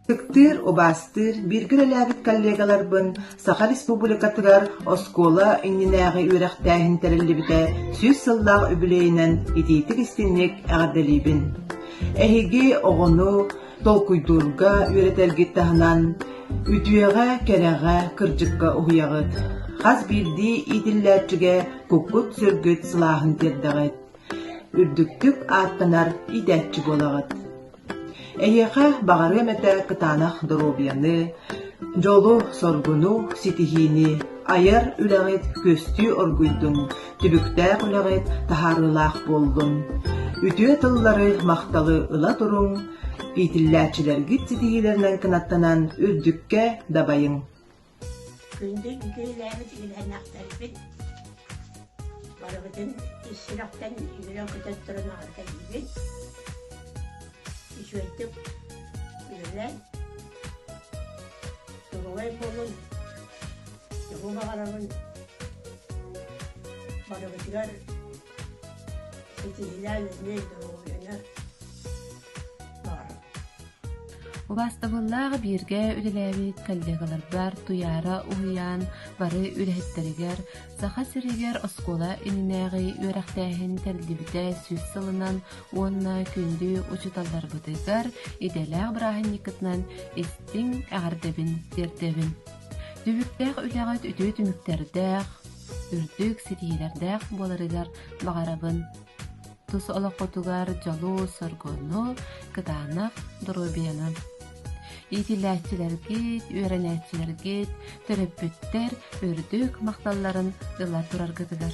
Ытыктыыр, убаастыыр, бииргэ үлэлээбит коллегаларбын Саха Республикатыгар оскуола иннинээҕи үөрэхтээһин тэриллибитэ сүүс сыллаах үбүлүөйүнэн итиитик-истинник эҕэрдэлиибин. Эһиги оҕону толкуйдуурга үөрэтэргит таһынан, үтүөҕэ, кэрэҕэ, кырдьыкка уһуйаҕыт. Хас биирдии иитиллээччигэ куккут-сүргүт сылааһын тиэрдэҕит. Үрдүктүк ааттанар иитээччи буолаҕыт. Эһиэхэ баҕарыам этэ кытаанах доруобуйаны, дьолу-соргуну, ситиһиини, айар үлэҕит күөстүү оргуйдун, түбүктээх үлэҕит таһаарыылаах буоллун. Үтүө тыллары, махталы ыла туруҥ, иитиллээччилэргит ситиһиилэринэн кынаттанан үрдүккэ дабайыҥ. Күндү үҥкүүлээбит үөлээннээхтэрбит барыбытын ис сүрэхтэн үөрэ-көтө туран аҕыркэтиибит. Үчүгэйдик үлэлээн, туругай буолун, дьоһуу баҕарабын барыбытыгар ситиһилээн эмиэ доруобуйаны Убаастабыллаах бииргэ үлэлээбит коллегаларбар Туйаара уһуйаан бары үлэһиттэригэр Саха сиригэр оскуола иннинээҕи үөрэхтээһин тэриллибитэ сүүс сылынан уонна күндү учууталларбытыгар идэлээх бырааһынньыккытынан истиҥ эҕэрдэбин тиэрдэбин Түбүктээх үлэҕит үтүө түмүктэрдээх, үрдүк ситиһиилэрдээх буоларыгар баҕарабын. Тус олоххутугар дьолу, соргуну, кытаанах доруобуйаны. Иитиллээччилэргит, үөрэнээччилэргит, төрөппүттэр үрдүк махталларын ыла тураргытыгар.